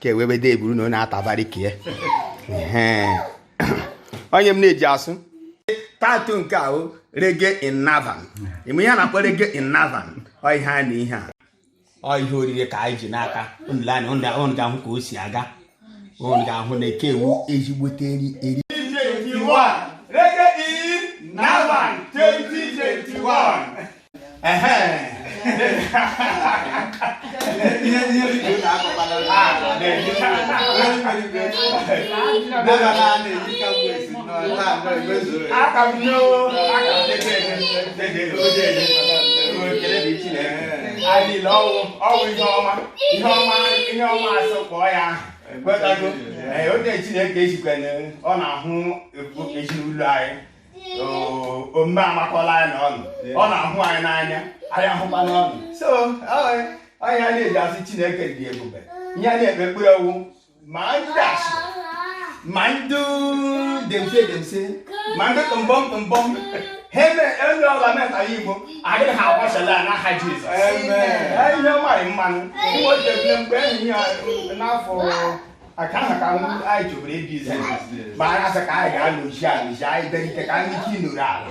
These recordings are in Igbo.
ka ewebede eburu na ọ na-atabari ka ya onye m na-eji asụ tatu nke ahụ reggae in navan ime ihe a na-akpọ reggae in navan ọ ihe a na ihe a ọ ihe oriri ka anyị ji n'aka unu lee anya unu ga- unu ga-ahụ ka o si aga unu ga-ahụ na nke a wụ ezigbote eri eri adịla ọ wụ ọ wụ ihe ọma ihe ọma ihe ọma asọ kpọọ ya kwetago onye chineke ejikwana ọ na-ahụ ezinụlọ anyị omume amakọla anyị na ọnụ ọ na-ahụ anyị n'anya anyị ahụkwa n'ọnụ so onye a na-eji asị chineke dị ebube ihe a na-ekpe ekpere ọ wụ ma ndị asị ma ndị demse demse ma ndị tụmbọm tụmbọm ha eme onye ọla metara igbo adịghị ha agbasala ya n'aha jizọs ihe ọ marị mmanụ mgbe o jebile mgbe enyi ya n'afọ aka ahụ ka anyị chọburu ịdị izu ma anyị asị ka anyị ga-anọchi anọchi anyị berite ka anyị chi nọrọ ala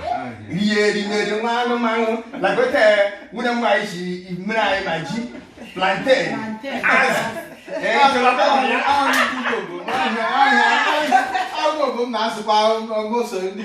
rie erimeri nwa anụmanụ lagote nwunye m nwaanyị si mmiri anyịm e ji plantain azụ ọgụ m na-asụkwa ọgụ so ndị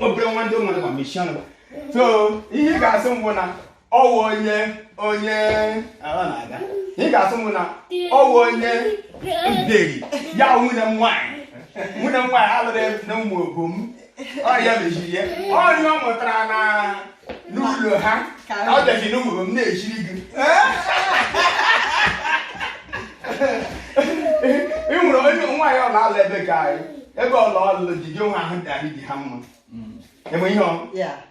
obere nwa ndị mmadụ ma mechie ọnụ so ihe ị ga-asị mbụ na ọ wụ onye onye ị ga-asị mbụ na ọ wụ onye nderi ya nwunye m nwaanyị nwunye m nwaanyị alụrụ na umuobom ọ ya mechiri ya ọrịa ọ mụtara na n'ụlọ ha ka ọ bịazi n'ụmụ m na-echiri gị ị nwere onye nwaanyị ọ na-alụ ebe ka anyị ebe ọla ọlụ di gị nwa ahụ dị anyị dị ha mma enwe ihe ọ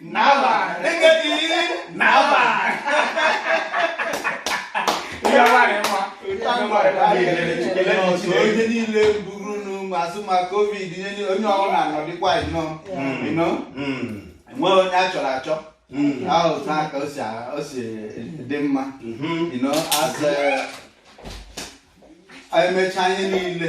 Navan. Reggae in Navan. Iya wa ni mo. Onye niile buru n'ụmụ azụ ma COVID nineteen onye ọbụla nọdịkwa nnọọ. Ịnọ? Enwe onye a chọrọ achọ. Ahụ taa ka o si dị mma. You know asị emechaa ihe niile.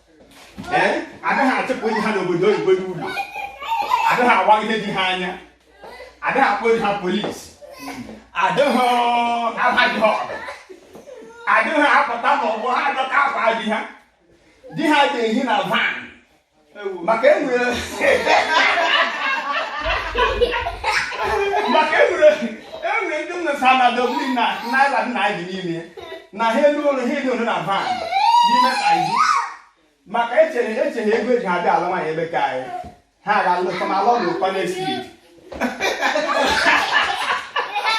anaghị achụpụ di ha n'obodo oyibo n'ụlọ anaghị awagide di ha anya anaghị akpọ di ha polisi adịghị abaghị ọgụ adịghị apụta n'ọgbọ ha adọka akwa di ha di ha ga-ehi na van maka enwere maka enwere enwere ndị nna sa na Dublin na Ireland na-adị n'ime na ha elu ụlọ ha elu ụlọ na van n'ime Ireland maka echere eche na ego eji abịa alụ nwaanyị ebe ka anyị ha ga alụta ma alụ ọdụ ụkwa n'esi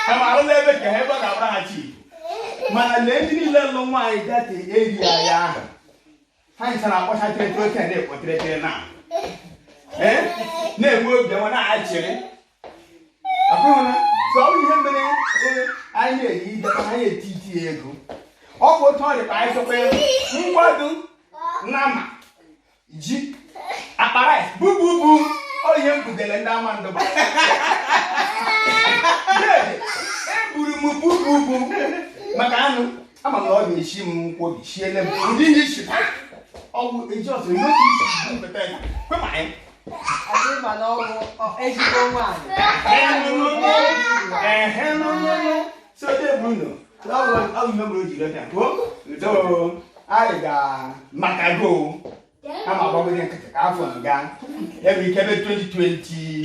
ha ma alụla ebe ka ha ebe ọ ga-abọra ha chi mana lee ndị niile lụ nwaanyị that area ahụ ha ncha na-akpọcha tịrịtịrị oke na-ekpọtịrịtịrị na na-enwe obi ọma na-achịrị ọ bụ otu ọ dị ka anyị chọkwa ya ngwadu nama ji akpara bububu ọ ihe m bugere ndị ama ndụba eburu m bububu maka anụ ama m na ọ ga-eshi m nkwobi shiele m ụdị ihe isi ewu eji ọsọ n'oge isi bupụta ya kwe ma anyị anyị ga maka go ama agbagode nkịtị ka afọ nga ebe ike ebe 2020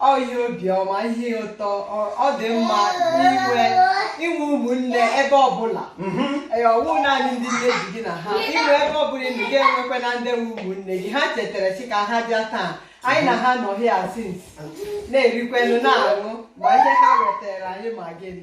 ọ ihe obiọma ihe ụtọ ọ- ọ dị mma inwe inwe ụmụnne ebe ọbụla Mhm. Ee, ọ wụ naanị ndị nne ji gị na ha inwe ebe ọbụla ị nọ gị enwekwa na ndị nwe ụmụnne gị ha chetara si ka ha bịa taa anyị na ha nọ here since na-erikwenụ na-aṅụ ma ihe ha wetara anyị ma gịnị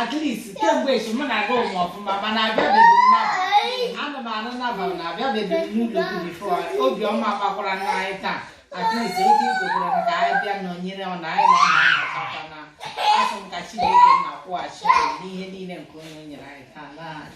at least kemgbe echi mụ na-aga ụmụ ọfụma mana abịabeghị m Navan anụ m anụ Navan na abịabeghị m n'ụlọ gị before obiọma gbakwara na anyị taa at least oge ị gotere m ka anyị bịa nọnyere ọ na anyị na ọ na-anọkọta na asị m ka chineke na-akwụghachi anyị n'ihe niile nke onye nyere anyị taa na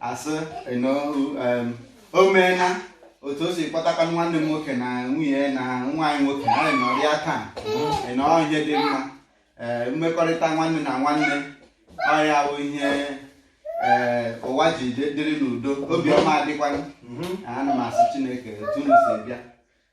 asị m o meela otu o si kpọtakwa nwanne m nwoke na nwunye na nwa anyị nwoke ha nọrịa taa ịnọọ ihe dị mma ee mmekọrịta nwanne na nwanne ọ ya wụ ihe ee ụwa ji dịrị n'udo obiọma adịkwanụ ana m asị chineke otu unu si bịa